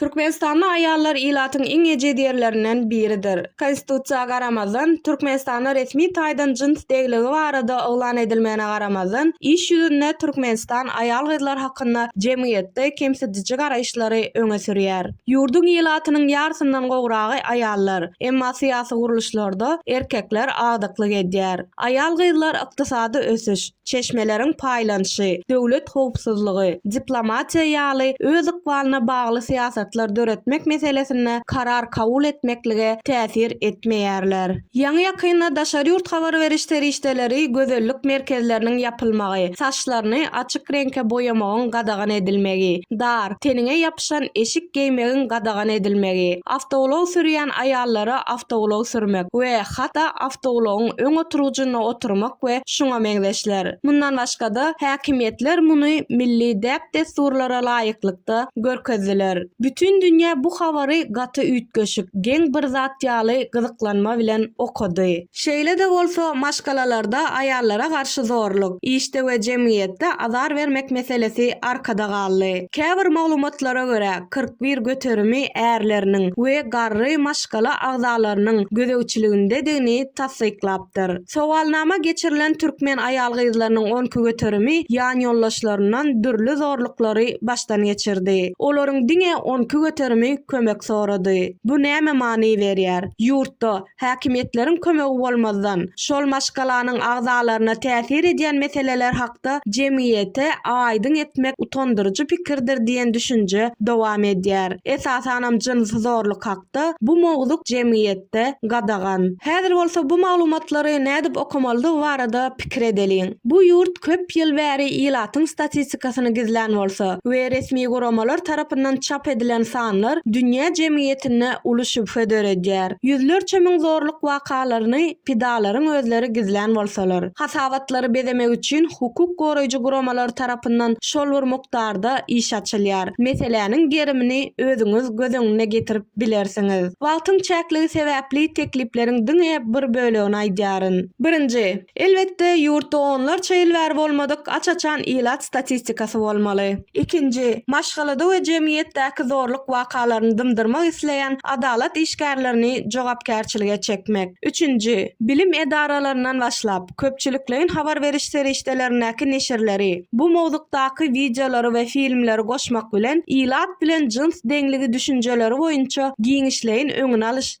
Türkmenistanly aýallar ilatyň iň ejiz ýerlerinden biridir. Konstitusiýa garamazdan, Türkmenistanda resmi taýdan jyns degligi barada yglan edilmegine garamazdan, iş ýüzünde Türkmenistan aýal-gyzlar hakynda jemgyýetde kemsidiji garaýyşlary öňe sürýär. Ýurduň ilatynyň ýarsyndan gowragy aýallar, emma syýasy gurluşlarda erkekler agdyklyk edýär. Aýal-gyzlar ykdysady ösüş, çeşmeleriň paýlanyşy, döwlet howpsuzlygy, diplomatiýa ýaly öz ykbalyna bagly syýasatlar döretmek meselesinde karar kabul etmeklige täsir etmeýärler. Ýaňy-ýakynda daşary ýurt habar beriş serişdeleri gözellik merkezleriniň ýapylmagy, saçlaryny açyk reňke boýamagyň gadagan edilmegi, dar, teniňe ýapyşan eşik geýmegiň gadagan edilmegi, awtoulag sürýän aýallara awtoulag sürmek we hatda awtoulagyň öň oturgyjynda oturmak we şuňa meňzeşler. Mundan başga-da, häkimiýetler muny milli däp-dessurlara laýyklykda görkezdiler. Bütin dünýä bu habary gaty üýtgeşik, geň bir zat ýaly gyzyklanma bilen okady. Şeýle-de bolsa, maşgalalarda aýallara garşy zorluk, işde we jemgyýetde azar bermek meselesi arkada galdy. Käbir maglumatlara görä, kyrk bir göterimi ärleriniň we garry maşgala agzalarynyň gözegçiligindedigini tassyklap, ýatlapdyr. Sowalnama geçirilen türkmen aýal-gyzlarynyň on iki göterimi ýanýoldaşlaryndan dürli zorluklary başdan geçirdi. Olaryň diňe on iki göterimi kömek sorady. Bu nämä many berýär? Ýurtda, häkimiýetleriň kömegi bolmazdan, şol maşgalanyň agzalaryna täsir edýän meseleler hakda jemgyýete aýdyň etmek utandyryjy pikirdir diýen düşünje dowam edýär. Esasanam jynsy zorluk hakda. wagtda bu mowzuk jemgyýetde gadagan. Häzir bolsa bu maglumatlary nädip okamalydygy barada pikir edeliň. Bu ýurt köp ýyl bäri ilatyň statistikasyny gizlän bolsa we resmi guramalar tarapyndan çap edilen sanlar dünýä jemgyýetinde uly şübhe döredýär. Ýüzlerçe müň zorluk wakalaryny, pidalaryň özleri gizlän bolsalar, hasabatlary bezemek üçin hukuk goraýjy guramalar tarapyndan şol bir mukdarda iş açylýar. Meseläniň gerimini özüňiz göz öňüne getirip bilersiňiz. Wagtyň çäkligi sebäpli teklipleriň diňe bir bölegini aýdýaryn. Birinji, elbetde, ýurtda onlarça ýyl bäri bolmadyk aç-açan ilat statistikasy bolmaly. Ikinji, maşgalada we jemgyýetdäki zorluk wakalaryny dymdyrmak isleýän adalat işgärlerini jogapkärçilige çekmek. Üçünji, bilim edaralaryndan başlap, köpçülikleýin habar beriş serişdelerindäki neşirleri, bu mowzukdaky wideolary we filmleri goşmak bilen, ilat bilen jyns deňligi düşünjeleri boýunça giňişleýin öňüni alyş